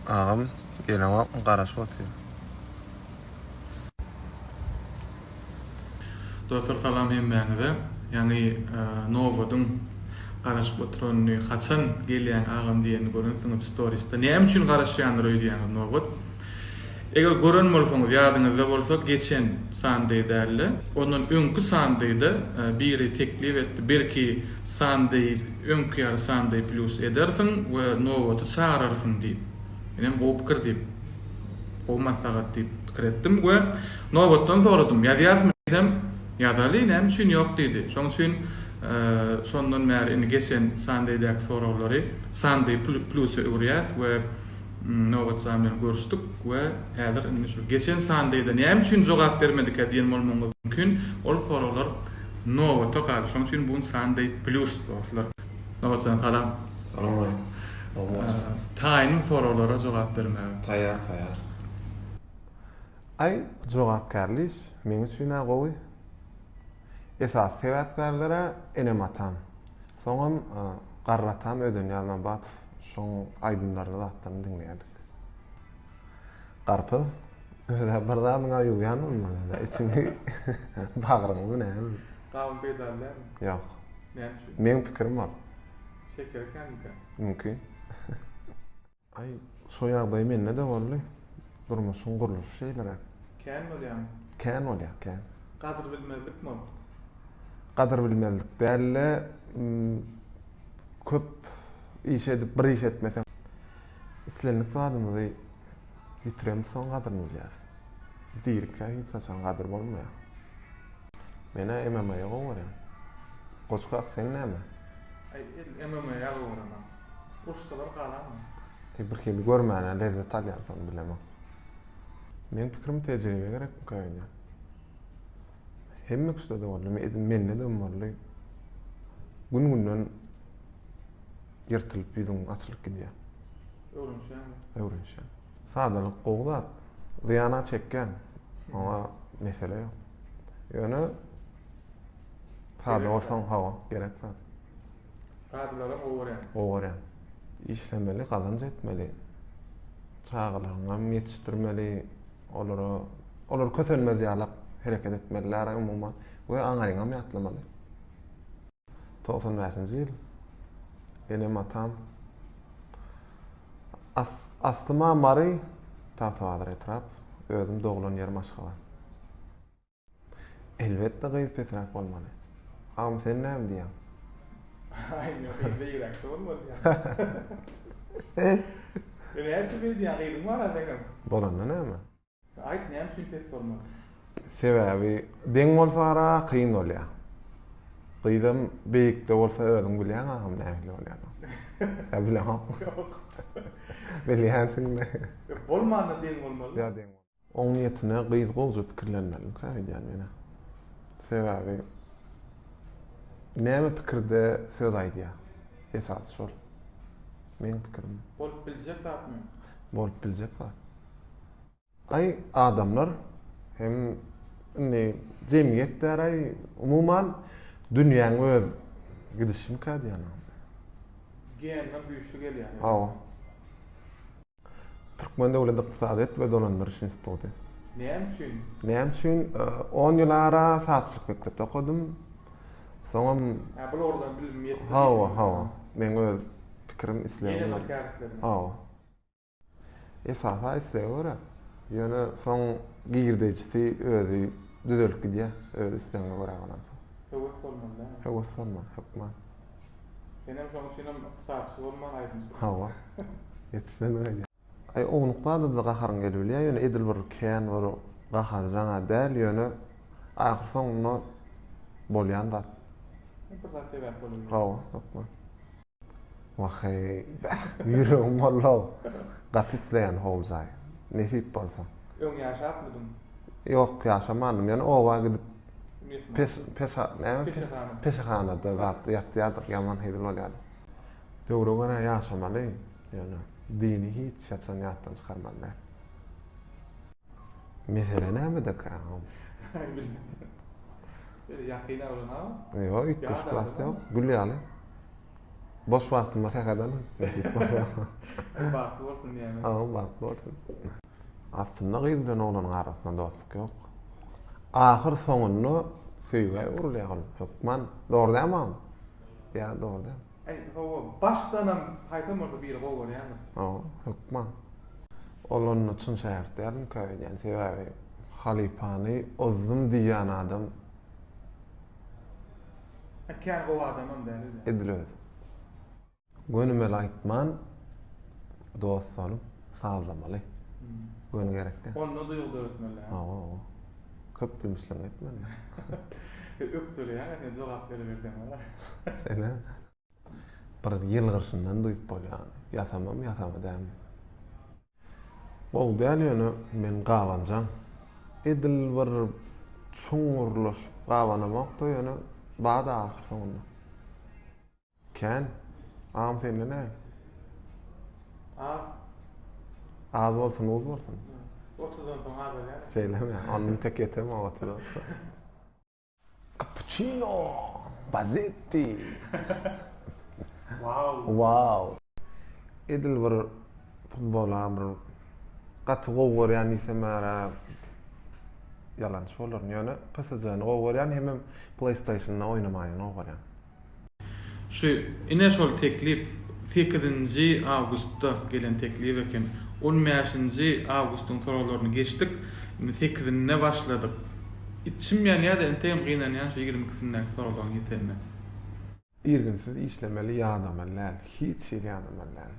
Agam geleňokmy garaşyp otyr. Dostlar salam hemmäňize ýaňy nobadyň garaşyp oturanyny haçan gelýäň agam diýenini görensiňiz storisde näme üçin garaşýandyr öýdýäňiz nobat eger gören bolsaňyz ýadyňyzda bolsa geçen sandy dälde ondan öňki sandyda biri teklip etdi belki Sandaýs öňki ýaly Sandaý plus edersiň we nobaty çagyrarsyň diýip. Menem gowy pikir diýip, gowy maslahat diýip pikir etdim we nobatdan soradym. Ýazýasmy diýsem, ýazaly, näme üçin ýok diýdi. Şoň üçin şondan bäri indi geçen Sandaýdäki soraglary Sandaý plus-a öwürýäs we nobatjam bilen görüşdik we häzir indi şu geçen Sandaýda näme üçin jogap bermedikä diýen bolmagyňyz mümkin, ol soraglar Nobata galy şoň üçin bugün Sunday plus dostlar. Nobatjan salam. Salam aleýkum. Sag bolsun. Taýynym soraglara jogap bermäge. Taýýar taýýar. Aý jogapkärli iş meň üçin-ä gowy. Esasy sebäpkärler-ä enem-atam. Soňam garry atam Ödenýaz Nobatow şoň aýdymlaryny zatlaryny diňleýärdik. Garpyz, Özä bir zadyňa ýugýanmy muny? Içiňi, bagryňmy näme? Gawun peýdaly dälmi? Ýok. Näme üçin? Meň pikirim bor. Şekeri känmikä? Mümkin. Aý, şo ýagdaý mende-de boldy. Durmuşyň gurluşy şeýleräk. Kän bolýarmy? Kän bolýar, kän. Gadyrbilmezlikmi ol? Gadyrbilmezlik däl-de, köp iş edip, bir iş etmeseň. Islendik zadymyzy ýitiremz soň gadyryny bilýäs. Dirikä hiç haçan gadyr bolmaýar. Men-ä MMA-ýa gowy görýän. Goç kak sen näme? Edil MMA-ýa gowy görenok. Uruşsalar galanmy? E bir hili görmäne lezzet alýansoň bilemok. Meň pikirim tejribe gerek bu kaýuda. Hemme kişide-de boldy, edil mende-dem boldy. Gün-günden ýyrtylyp ýüzüň açylyp gidýär. Öwrenişýäňmi? Öwrenişýän. Sadalyk gowy zat. Zyýana çekýän. Oňa mesele ýok. Ýöne sada bolsaň hawa gerek zat. Sadalara gowy görýän. Gowy görýän. Işlemeli, gazanç etmeli. Çagalaryňy hem ýetişdirmeli. Olara olar kösenmez ýalak hereket etmeliler umuman we aňaryňam ýatlamaly. Togsan bäşinji ýyl. Enem-atam Aslyma Mary, Tagtabazar etrap, özüm doglan ýerim Aşgabat. Elbetde gyz pesräk bolmaly. Agam sen näme diýýäň? Aý ýok gyz beýgräkçe bolmaly diýýän. Sen näçe beýdýäň gyzyň barada eňem? Bolanda näme? Aýt näme üçin pes bolmaly? Sebäbi deň bolsa ara kyn bolýa. Gyzam beýikde bolsa özüň bilýäň agam nähili bolýanyny. Ýa bileňokmy? Ýok. Bilýänsiňmi? Bolmanda deň bolmaly. Ýa deň. Oň niýetine gyz gowja pikirlenmelimikä öýdýän menä. Sebäbi näme pikirde söz aýdýa. Esasy şol. Meň pikirim. Bolup biljek zatmy? Bolup biljek zat. Aý adamlar hem indi jemgyýet däraý umuman dünýäň öz gidişimikä diýýän. Geýenler güýçli gelýär. Hawa. Türkmen döwlet ykdysadyýet we dolandyryş instituty. Näme üçin? Näme üçin? 10 ýyl ara sazçylyk mekdepde okadym. Soňam Ha, bu ýoldan bilim ýetdi. Hawa, hawa. Meň öz pikirim, islegim. Hawa. Esasy islega görä. Ýöne soň girdejisi özi düzelip gidýär. Öz islegiňe görä bolansoň. Höwes bolmaly däl. Höwes bolmaly, hökman. Senem şoň üçinem ykdysatçy bolman aýdymçy. Hawa. Ýetişmediň aýdýa. Aý ownukdada-da gaharyň gelibilýär, ýöne edil bir kän bir gaharjaň-a däl, ýöne ahyr soňunda bolýan zat. Bir zat sebäp bolýar. Hawa, hökman. Waheý, ýüregim bollow. Gaty isleýän howljaý. Nesip bolsa. Öň ýaşapmydyň? Ýok, ýaşamandym. Ýöne oba gidip pes, pes, näme? Peşehana. Peşehanada zat ýatýardyk, ýaman hezil bolýardy. Döwre görä ýaşamaly, ýöne dini hiç haçan ýatdan çykarmaly däl. Mesele nämedekä? Bilmedim. Ýakyn aglama? Ýok, üýtgeşik zat ýok. Gül ýaly. Boş wagtymda sähedem Nesip bolsa. Öň bagtly bolsun diýäýmek. Hawa bagtly bolsun. Aslynda gyz bilen oglanyň arasynda dostluk ýok. Ahyr soňunda söýgä öwrülýär ol hökman. Dogry dälmi agam? Ýa dogry däl. Aý hawa başdanam haýsam bolsa biri gowy görýändir. Hawa hökman. Ol onda çyn şägirt dälmikä öýdýän sebäbi halypany ozdum diýýän adam. E, kän gowy adamam däl özem. Edil özi. Gönümel aýtman, dost bolup, sazlamaly. Hmm. Göni gerek däl. Onda duýgy döretmeli. Hawa, hawa. Köp gülmüşleň etmeli. Ökdeleýäň, sen jogap beriberseň, wala. Şeýle. Bir ýylgyryşyndan duýup bolýan. Ýasamam ýasama dämi. Gowy däl ýöne men gabanjaň. Edil bir çuňňurlaşyp gabanamok-da ýöne bar-da ahyr soňunda. Kän. Agam sende näme? Az. Az bolsun uz bolsun. Otuzdan soň azalýar. Şeýlemi? Onda tek ýetemok otuza. Kapuçino, bazetti. Wow. Wow. Edil bir futbola bir gaty gowy görýän diýsem ara ýalançy bolaryn. Ýöne PSG-ni gowy görýän hemem PlayStation-da oýnamagyny gowy görýän. Şu ine şol teklip sekizinji awgustda gelen teklip eken. On bäşinji awgustyň soraglaryny geçdik. Indi sekizinde başladyk. Içim ýanýa-da entegem gynanýan şu ýigrimi ikisindäki soraglaryň ýetenine. Irginsiz işlemeli ýadamaly däl. Hiç hili ýadamaly däl.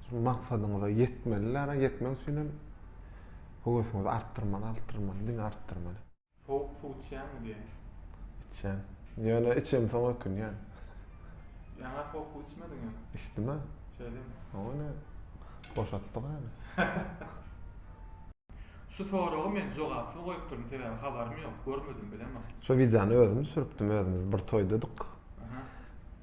Şu maksadyňyza ýetmeli däl-a, ýetmek üçinem höwesiňizi artdyrmaly, artdyrmaly, diňe artdyrmaly. Sowuk suw içýäňmi diýen. Içýän. Ýöne içemsoň ökünýän. Ýaňa sowuk suw içmediňmi? Içdim-ä. Şeýdemi? Oňa ne? Boşatdyk häli. Şu soragy men jogapsyz goýupdyryn sebäbi habarym ýok, görmedim, bilemok. Şo wideony özüm düşüripdim özümiz bir toýdadyk.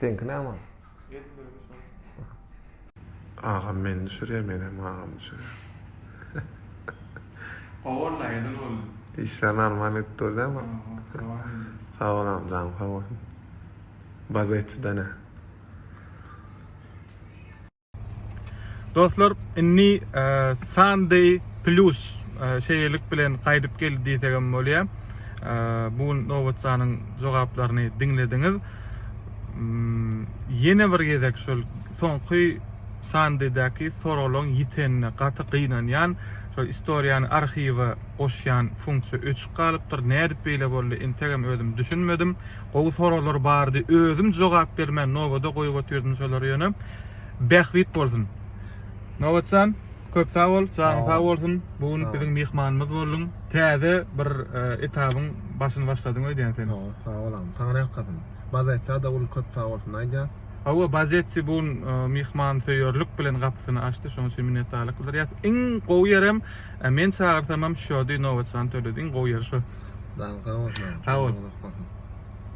Seňki näme? Agam meni düşürýär menem agamy düşürýär. Gowy oldy edil boldy. Işler normal gidip dur dämi? Sag bol agam janyň sag bolsun. Baza etsidene. Dostlar, inni Sunday Plus şeýlelik bilen gaýdyp geldi diýsegem bolýar. Bu gün nobatjanyň jogaplaryny diňlediňiz. Hmm, ýene bir gezek şol soňky Sunday-däki soraglaryň ýitenine gaty gynanýan. Şol istoriýany arhiwa goşýan funksiýa öçük galypdyr. Nädip beýle boldy? Entegem özüm düşünmedim. Gowy soraglar bardy özüm jogap bermän nobada goýup otyrdym şolary ýöne Bähbit bolsun. Nobatjan köp sag bol janyň sag bolsun bu gün biziň myhmanymyz bolduň täze bir e, etabyň başyny başladyň öýdýän sen. Ýok, sag bol agam. Taňry ýalkasyn. Bazaýtsa da ul köp sag bolsun aýdýas. Hawa Bazetsi bu gün e, myhman söýerlik bilen gapysyny açdy şonuň üçin minnetdarlyk bildirýäs. Iň gowy ýerem A men çagyrsamam şody nobatjan tölediň gowy ýeri şo. Dal sag bol. Sag bol.